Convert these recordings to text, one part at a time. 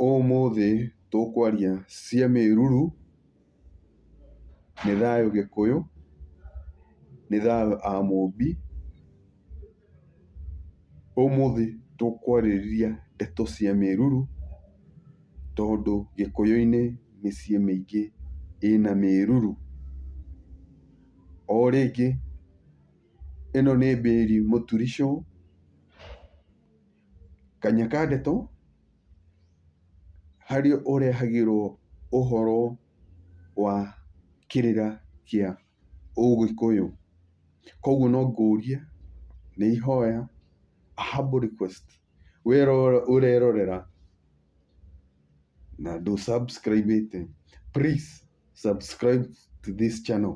Ũmũthĩ tũkwaria cia mĩruru, nĩ thayũ gĩkũyũ, nĩ thayũ amũmbi. Ũmũthĩ tũkwarĩrĩria ndeto cia mĩruru, tondũ gĩkũyũ-inĩ mĩciĩ mĩingĩ ĩna mĩruru. O rĩngĩ ĩno nĩ Mary Mũturi Show. Kanya ka ndeto, harĩa ũrehagĩrwo ũhoro wa kĩrĩra kĩa ũgĩkũyũ. Koguo no ngũrie, nĩ ihoya, a humble request, wee ũrerorera na ndũ subscribe ĩte please. subscribe to this channel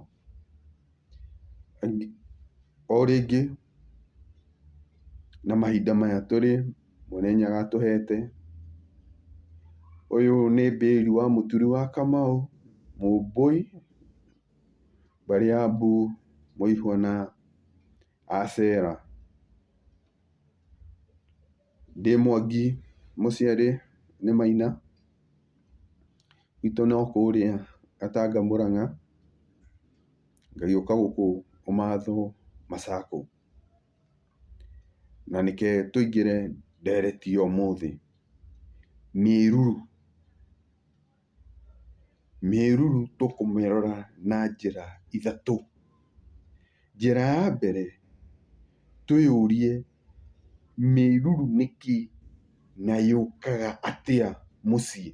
o rĩngĩ na mahinda maya tũrĩ mwene nyaga atũhete ũyũ nĩ bĩri wa mũturi wa kamau mũmbũi mbarĩ ya mbu mũihũna acera. Ndĩ Mwangi mũciari nĩ Maina, gwitũ no kũrĩa Gatanga Mũrang'a, ngagĩũka gũkũ ũmathwo Masako. Na reke tũingĩre ndereti ya ũmũthĩ, mĩruru. Mĩruru tũkũmĩrora na njĩra ithatũ. Njĩra ya mbere, twĩyũrie mĩruru nĩ kĩĩ na yũkaga atĩa mũciĩ.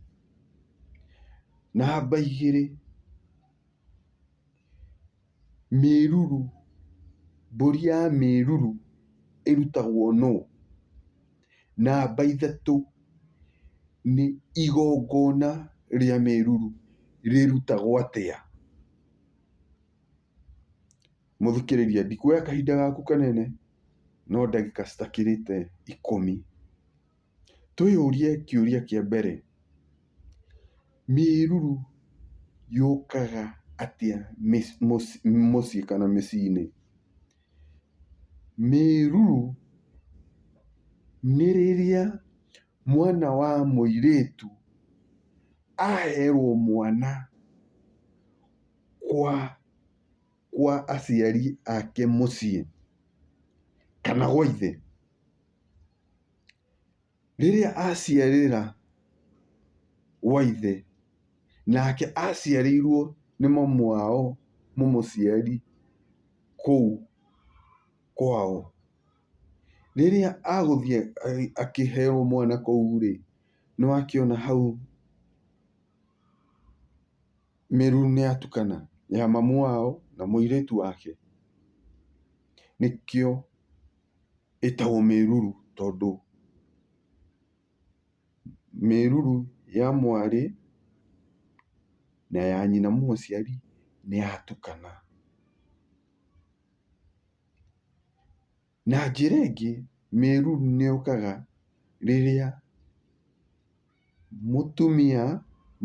Namba igĩrĩ, Mĩruru, mbũri ya mĩruru ĩrutagwo nũ? Namba ithatũ, nĩ igongona rĩa mĩruru rĩrutagwo atĩa? Mũthikĩrĩria ndikuoya kahinda gaku kanene no ndagĩka citakĩrĩte ikũmi. Twĩyũrie kĩũria kĩa mbere, mĩruru yũkaga atĩa mũciĩ kana mĩciĩ-inĩ? Mĩruru nĩ rĩrĩa mwana wa mũirĩtu aherwo mwana kwa aciari ake mũciĩ kana gwa ithe. Rĩrĩa aciarĩra gwa ithe, nake aciarĩirwo nĩ mamu wao mũmũciari kũu kwao. Rĩrĩa agũthiĩ akĩheyo mwana kũu rĩ, nĩ akĩona hau mĩri nĩ yatukana, ya mamu wao na mũirĩtu wake, nĩkĩo. ĩtagwo mĩruru tondũ mĩruru ya mwarĩ na ya nyina mũciari nĩ yatukana. Na njĩra ĩngĩ mĩruru nĩ yũkaga rĩrĩa... Mũtumia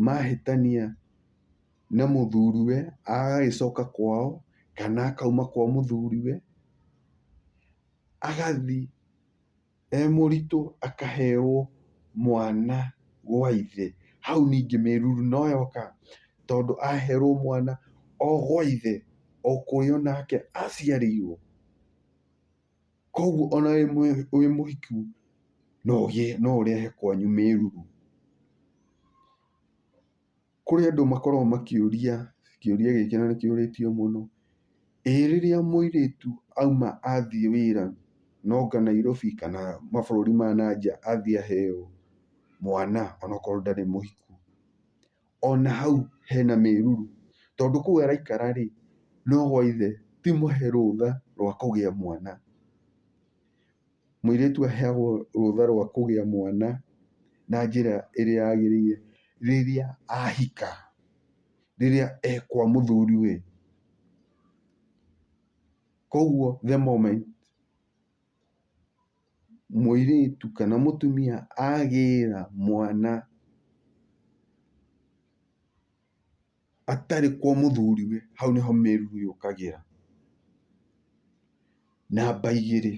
mahĩtania na mũthuriwe agagĩcoka kwao kana akauma kwa mũthuriwe, agathiĩ e mũritũ akaheyo mwana gwa ithe. Hau ningĩ mĩruru no yoka tondũ aherwo mwana o gwa ithe o kũrĩa onake aciarĩirwo. Koguo ona wĩ mũhiku no ũgĩe, no ũrehe kwanyu mĩruru. Kũrĩ andũ makoragwo makĩũria kĩũria gĩkĩ na nĩ kĩũrĩtio mũno, "Ĩ rĩrĩa mũirĩtu auma athiĩ wĩra na oka Nairobi kana mabũrũri ma na nja athiĩ aheo mwana onokorwo ndarĩ mũhiku, ona hau hena mĩruru, tondũ kũu araikara rĩ, no gwa ithe, ti mũhe rũtha rwa kũgĩa mwana. Mũirĩtu aheagwo rũtha rwa kũgĩa mwana na njĩra ĩrĩa yagĩrĩire rĩrĩa ahika, rĩrĩa e kwa mũthuriwe. Koguo the moment mũirĩtu kana mũtumia agĩra mwana atarĩ kwa mũthuriwe, hau nĩho mĩruru yũkagĩra. Namba igĩrĩ,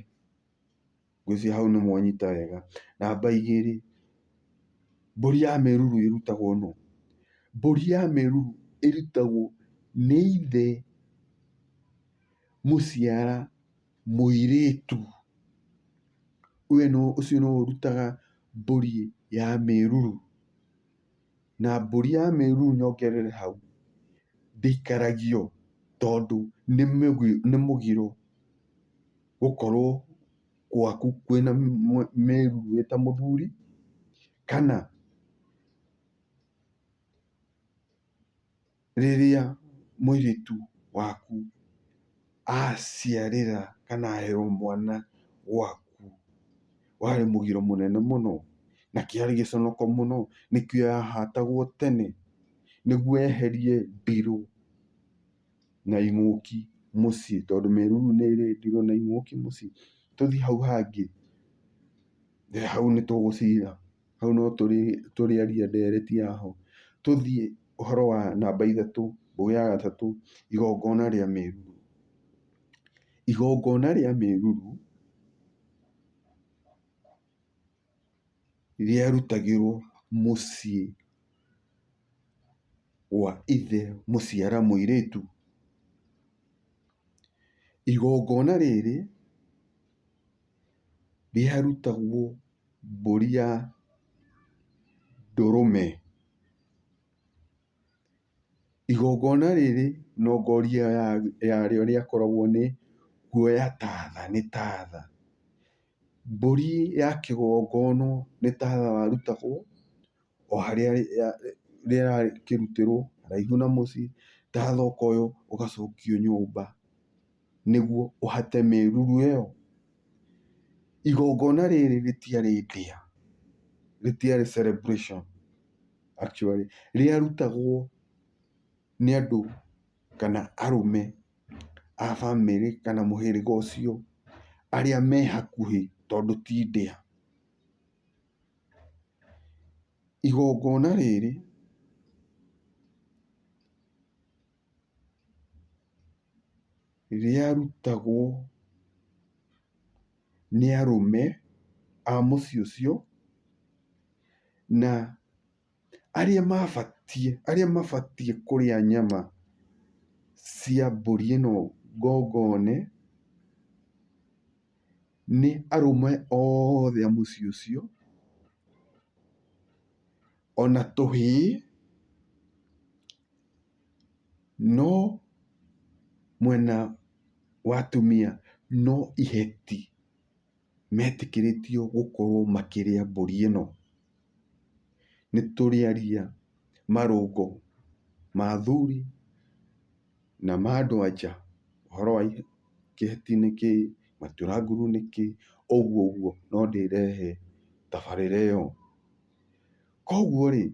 ngwĩciria hau nĩ mwanyita wega. Namba igĩrĩ, mbũri ya mĩruru ĩrutagwo nũ? Mbũri ya mĩruru ĩrutagwo nĩ ithe mũciara. Mũirĩtu, ũyũ nĩ, ũcio nĩwe ũrutaga mbũri ya mĩruru. Na mbũri ya mĩruru nyongerere hau, ndĩikaragio tondũ nĩ nĩ mũgiro gũkorwo gwaku kwĩna mĩruru wĩ ta mũthuri, kana. rĩrĩa mũirĩtu waku aciarĩra kana aheyo mwana gwaku, warĩ mũgiro mũnene mũno, na kĩarĩ gĩconoko mũno, nĩkĩo yahatagwo tene, nĩguo yeherie ndirũ na ing'ũki mũciĩ, tondũ mĩruru nĩ ĩrĩ ndirũ na ing'ũki mũciĩ. Tũthiĩ hau hangĩ, hau nĩ tũgũcira. hau no tũrĩarie ndereti ya ho. Tũthiĩ ũhoro wa namba ithatũ, mbũgĩ ya gatatũ, igongona rĩa mĩruru. Igongona rĩa mĩruru rĩarutagĩrwo mũciĩ wa ithe mũciara mũirĩtu. Igongona rĩrĩ rĩharutagwo mbũri ya ndũrũme. Igongona rĩrĩ nongoria yarĩo rĩakoragwo nĩ kuoya tatha, nĩ tatha. Mbũri ya kĩgongono nĩ tatha warutagwo. o harĩa rĩrakĩrutĩrwo haraihu na mũciĩ, ndathoko ĩyo ũgacokio nyũmba nĩguo ũhate mĩruru ĩyo. Igongona rĩrĩ rĩtiarĩ ndĩa, rĩtiarĩ celebration actually rĩarutagwo nĩ andũ kana arũme a bamĩrĩ kana mũhĩrĩga ũcio arĩa me hakuhĩ tondũ ti ndĩa. Igongona rĩrĩ rĩarutagwo nĩ arũme a mũciĩ ũcio na. arĩa mabatiĩ, arĩa mabatiĩ kũrĩa nyama cia mbũri ĩno ngongone, nĩ arũme othe a mũciĩ ũcio, ona tũhĩĩ, no mwena wa atumia no iheti. metĩkĩrĩtio gũkorwo makĩrĩa mbũri ĩno. Nĩ tũrĩaria marũngo ma athuri na ma andũ a nja, ũhoro wa kĩheti nĩ kĩ, matura nguru nĩ kĩ, ũguo ũguo no ndĩrehe tabarĩra ĩyo. Koguo rĩ,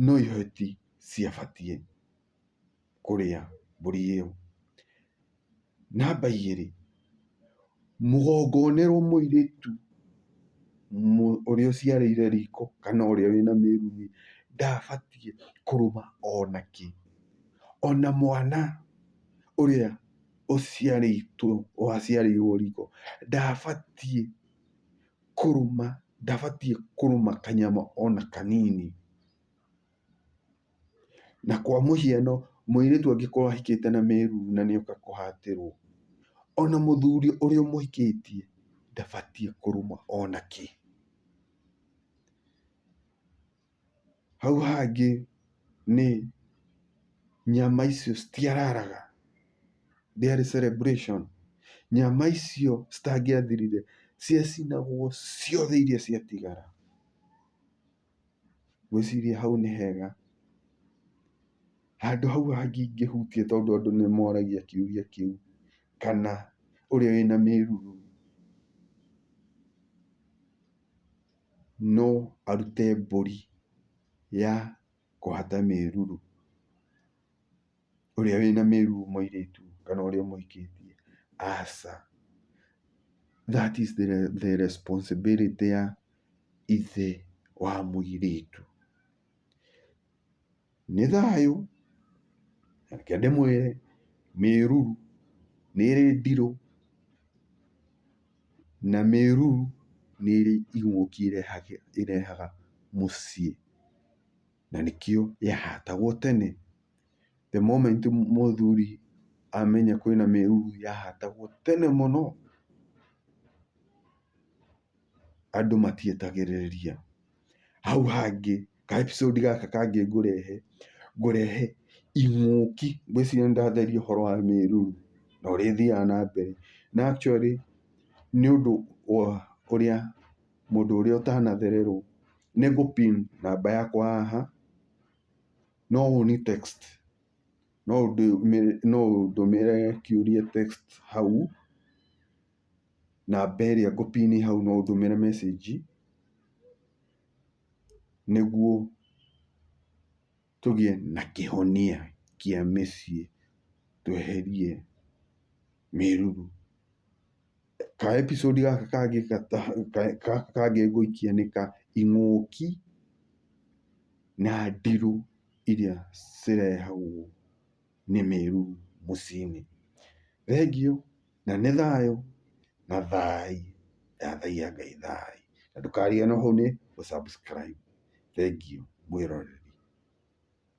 no iheti ciabatiĩ. kũrĩa mbũri ĩyo. Namba igĩrĩ, mũgongonerwo mũirĩtu ũrĩa ũciarĩire riko kana ũrĩa wĩna mĩruru-rĩ, ndabatiĩ kũrũma ona kĩ. Ona mwana ũrĩa ũciarĩtwo waciarĩirwo riko ndabatiĩ kũrũma, ndabatiĩ kũrũma kanyama ona kanini. Na kwa mũhiano mũirĩtu angĩkorwo ahikĩte na mĩruru na nĩ oka kũhatĩrwo, ona mũthuri ũrĩa ũmũhikĩtie ndabatiĩ kũrumwo ona kĩ. Hau hangĩ nĩ nyama icio citiararaga, ndĩarĩ celebration, nyama icio citangĩathirire ciacinagwo ciothe iria ciatigara. Ngwĩciria hau nĩ hega. Handũ hau hangĩ ingĩhutia tondũ andũ nĩ moragia kĩũria kĩu, kana ũrĩa wĩna mĩruru no arute mbũri ya kũhata mĩruru. ũrĩa wĩna mĩruu mũirĩtu kana ũrĩa ũmũhikĩtie, aca. That is the responsibility ya ithe wa mũirĩtu. Nĩ thayũ, reke ndĩmwĩre, mĩruru nĩ ĩrĩ ndirũ, na mĩruru nĩ ĩrĩ ing'ũki ĩrehaga mũciĩ, na nĩkĩo yahatagwo tene. The moment mũthuri amenya kwĩna mĩruru yahatagwo tene mũno, andũ matietagĩrĩria. Hau hangĩ, ka episode gaka kangĩ ngũrehe, ngũrehe ing'ũki. Ngwĩciria nĩ ndatheria ũhoro wa mĩruru na ũrĩa ĩthiaga na mbere. Na actually nĩ ũndũ wa ũrĩa mũndũ ũrĩa ũtanathererwo, nĩ ngũ pin namba yakwa haha. No ũni text, no ũndũmĩre kĩũria text hau, namba ĩrĩa ngũ pin hau no ũndũmĩre message nĩguo tũgĩe na kĩhonia kĩa mĩciĩ, tweherie mĩruru. Ka episode gaka kangĩ gaka kangĩ ngũikia nĩ ka ing'ũki na ndirũ iria cirehagwo nĩ mĩrũ mũciĩ-inĩ. Thengiũ na nĩ thayũ na thai ndathaia Ngai thai. Na ndũkariganĩrwo hau nĩ gũ subscribe. Thengiũ mwĩroreri.